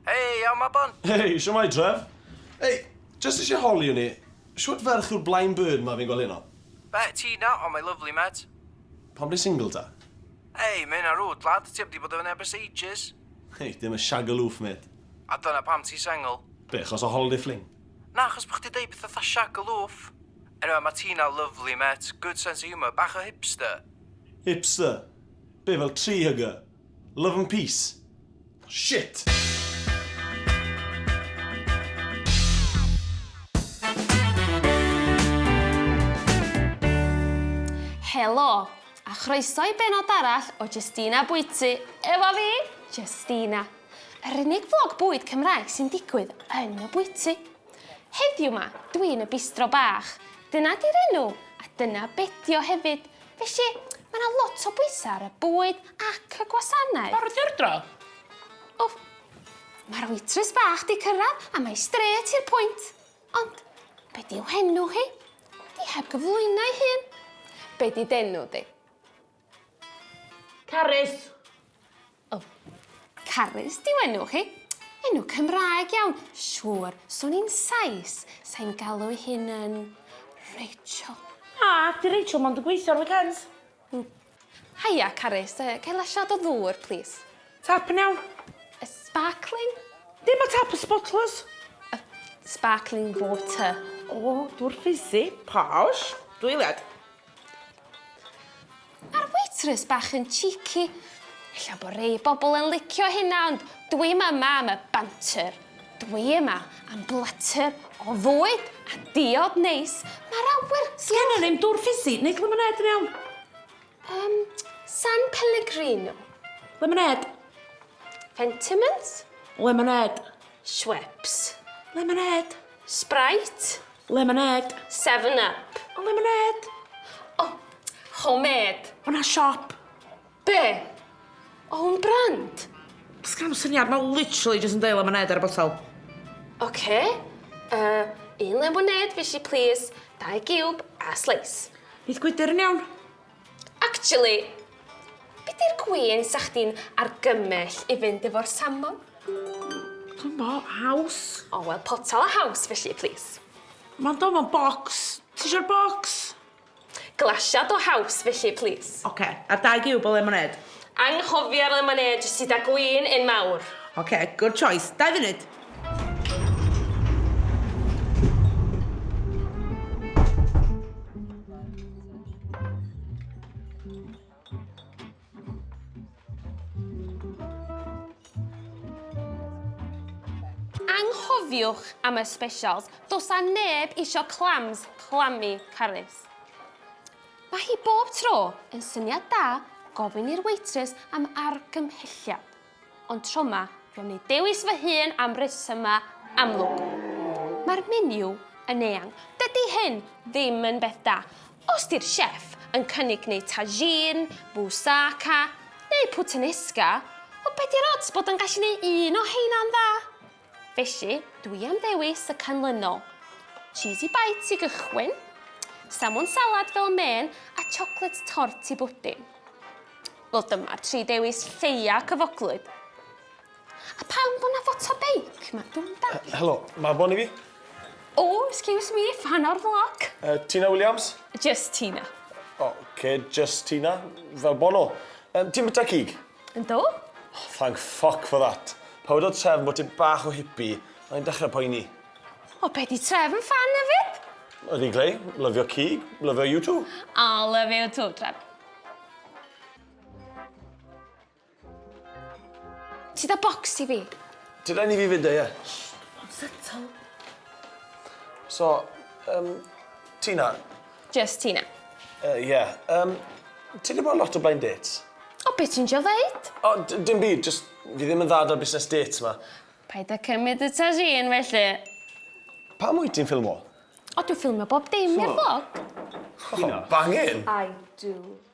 Hei, iawn, Mabon? Hei, sio mai, Trev? Hei, just eisiau holi o'n i. Siwt ferch yw'r blaen bird ma fi'n gweld hyn o? Be, ti na? O, mae lyflu, met. Pam di single ta? Hei, mae hynna rwyd, lad. Ti am di bod yn ebys ages? Hei, dim y shagaloof, met. A dyna pam ti sengl? Be, chos o holiday fling? Na, chos bod chdi deud pethau tha shagaloof. Anyway ma Tina lyfli met, good sense of humour, bach o hipster! Hipster? Be fel tree hugger? Love and peace? Shit! Helo, a chroeso i bennod arall o Jestina Bwyty efo fi, Jestina. Yr unig flog bwyd Cymraeg sy'n digwydd yn y bwyty. Heddiw 'ma, dwi yn y bistro bach. Dyna 'di'r enw, a dyna bedi o hefyd. Felly, ma' 'na lot o bwysa' ar y bwyd ac y gwasanaeth. Barod i ordro? O, ma'r waitress bach 'di cyrradd a mae strêt i'r pwynt. Ond, be' 'di'w henw hi? 'Di heb gyflwyno'i hun. Be' 'di d'enw di? Carys! O. Carys 'di 'w enw chi. Enw Cymraeg iawn. Siŵr, swn i'n Sais, sa i'n galw 'i hun yn Rachel. Na, 'di Rachel mond yn gweithio ar weekends. Hmm. Haia, Carys. Yy, ga i lasiad o ddŵr, plîs? Tap yn iawn. Yy, sbarcling? Dim y tap, y sbotlys. Yy, sbarcling water. O, dŵr ffisi, posh. Dwy eiliad. Ma'r waitress bach yn cheeky. Ella bo' rei bobol yn licio hynna ond dwi'm yma am y banter. Dwi yma am blater o fwyd a diod neis. Ma'r awyr... Sgennon ni'm dwr ffisi neith lemonêd yn iawn? Yym San Pellegrino? Lemonêd. Fentimans? Lemonêd. Schweppes? Lemonêd. Sprite. Lemonêd. Seven up. O lemonêd. O, homemade. O na siop. Be'? Own brand? Sgena'm syniad, ma' literally jyst yn deud lemonêd ar y botel. Ocê, yy un lemonêd fysi plîs, dau giwb a sleis. Neith gwydyr yn iawn. Actually, be di'r gwin sa chdi'n argymell i fynd efo'r salmon? Dim bo, haws. O wel, potel o haws felly, plis. Ma'n do mewn bocs. Tisio'r bocs? Glasiad o haws felly, plis. Ocê, a'r dau giwb o lemonêd? Anghofia'r lemonêd sydd â gwin yn mawr. Ok, good choice. Dau funud. Anghofiwch am y specials. Does a neb isio clams, clammy, carys. Mae hi bob tro yn syniad da gofyn i'r waitress am argymhelliad, ond tro 'ma dwi am neud dewis fy hun am resyma amlwg. Mae'r menu yn eang. Dydy hyn ddim yn beth da os 'di'r chef yn cynnig neud tagine, moussaka neu puttanesca, ond be' 'di'r odds bod o'n gallu neud un o heina'n dda? Felly, dwi am ddewis y canlynol, cheesy bites i gychwyn, salmon salad fel mên a chocolate tart i bwdin. Wel dyma'r tri dewis lleia cyfoglyd. A pam bod 'na foto beic 'ma? Dwi'm yn dallt. Uh, helo, ma' Bon i fi. O, oh, excuse me, fan o'r vlog. Uh, Tina Williams? Just Tina. O, oh, okay, just Tina, fel Bono. Um, ti'n byta cig? Yndw. Oh, thank fuck for that. Pa wedodd Trefn bod ti bach o hippie, o'n i'n dechrau poeni. O, be di Trefn fan hefyd? Yr i glei, lyfio cig, lyfio you too. A lyfio you too, Trefn. Ti da bocs ti fi? Ti da ni fi fyd, ie. Settle. So, um, Tina, Jyst ti 'na. Yy ie. Yym ti 'di bod lot o blind dates? O be' ti'n trio ddeud? O d- dim byd jyst fi ddim yn dda 'da'r busnes dates 'ma. Paid â cymyd y tagine felly. Pam wyt ti'n ffilmo? O dwi ffilmio bob dim i'r flog. O bangin! I do.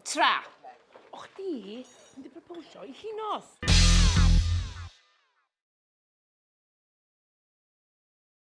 Tra! O chdi yn dy proposio i Llinos!